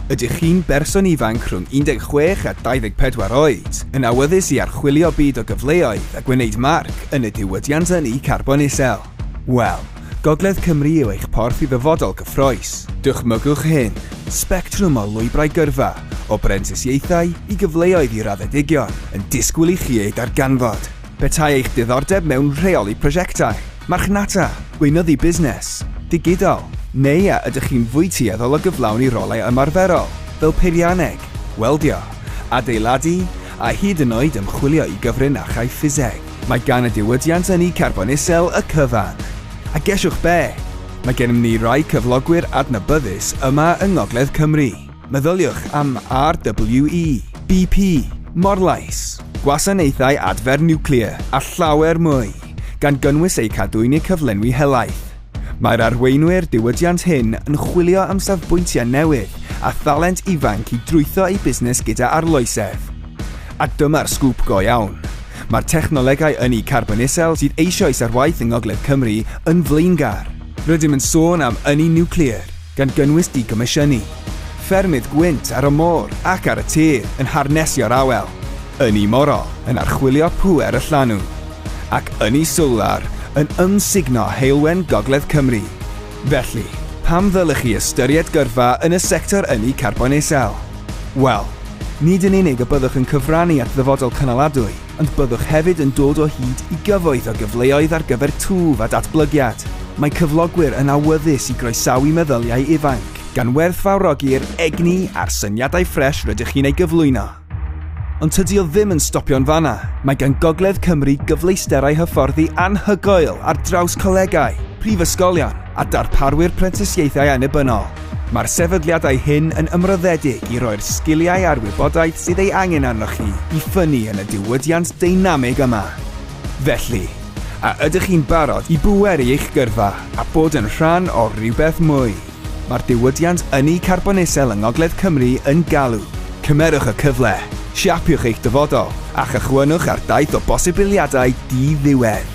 Ydych chi'n berson ifanc rhwng 16 a 24 oed, yn awyddus i archwilio byd o gyfleoedd a gwneud marc yn y diwydiant ynni carbon isel? Wel, Gogledd Cymru yw eich porth i ddyfodol gyffroes. Dychmygwch hyn, sbectrwm o lwybrau gyrfa, o brentisiaethau i gyfleoedd i raddedigion, yn disgwyl i chi eu darganfod. Petai eich diddordeb mewn rheoli prosiectau, marchnata, gweinyddu busnes, digidol, neu a ydych chi'n fwy tueddol o gyflawni i rolau ymarferol, fel peirianneg, weldio, adeiladu, a hyd yn oed ymchwilio i gyfrin a chaiff ffiseg, mae gan y diwydiant ynni carbon isel y cyfan. A gesiwch be? Mae gennym ni rai cyflogwyr adnabyddus yma yng Ngogledd Cymru. Meddyliwch am RWE, BP, Morlais, Gwasanaethau Adfer Niwclear a llawer mwy, gan gynnwys eu cadw yn eu cyflenwi helaeth. Mae'r arweinwyr diwydiant hŷn yn chwilio am safbwyntiau newydd a thalent ifanc i drwytho eu busnes gyda arloesedd. A dyma'r sgŵp go iawn, mae'r technolegau ynni carbon isel sydd eisoes ar waith yng Ngogledd Cymru yn flaengar. Rydym yn sôn am ynni niwclear, gan gynnwys digomisiynu ffermydd gwynt ar y môr ac ar y tir yn harnesio'r awel, ynni morol yn archwilio pŵer y llanw, ac ynni solar yn ymsugno heulwen gogledd Cymru. Felly, pam ddylech chi ystyried gyrfa yn y sector ynni carbon isel? Wel, nid yn unig y byddwch yn cyfrannu at ddyfodol cynaladwy, Ond byddwch hefyd yn dod o hyd i gyfoeth o gyfleoedd ar gyfer twf a datblygiad. Mae cyflogwyr yn awyddus i groesawu meddyliau ifanc, gan werthfawrogi'r egni a'r syniadau ffres rydych chi'n ei gyflwyno. Ond tydi o ddim yn stopio'n fanna, mae gan Gogledd Cymru gyfleusterau hyfforddi anhygoel ar draws colegau, prifysgolion, a darparwyr prentisiaethau annibynnol. Mae'r sefydliadau hyn yn ymroddedig i roi'r sgiliau a'r wybodaeth sydd ei angen arnoch chi i ffynnu yn y diwydiant deinamig yma. Felly, a ydych chi'n barod i bweru eich gyrfa a bod yn rhan o rywbeth mwy? Mae'r diwydiant ynni carbon isel yng Ngogledd Cymru yn galw. Cymerwch y cyfle, siapiwch eich dyfodol, a chychwynnwch ar daith o bosibiliadau di-ddiwedd.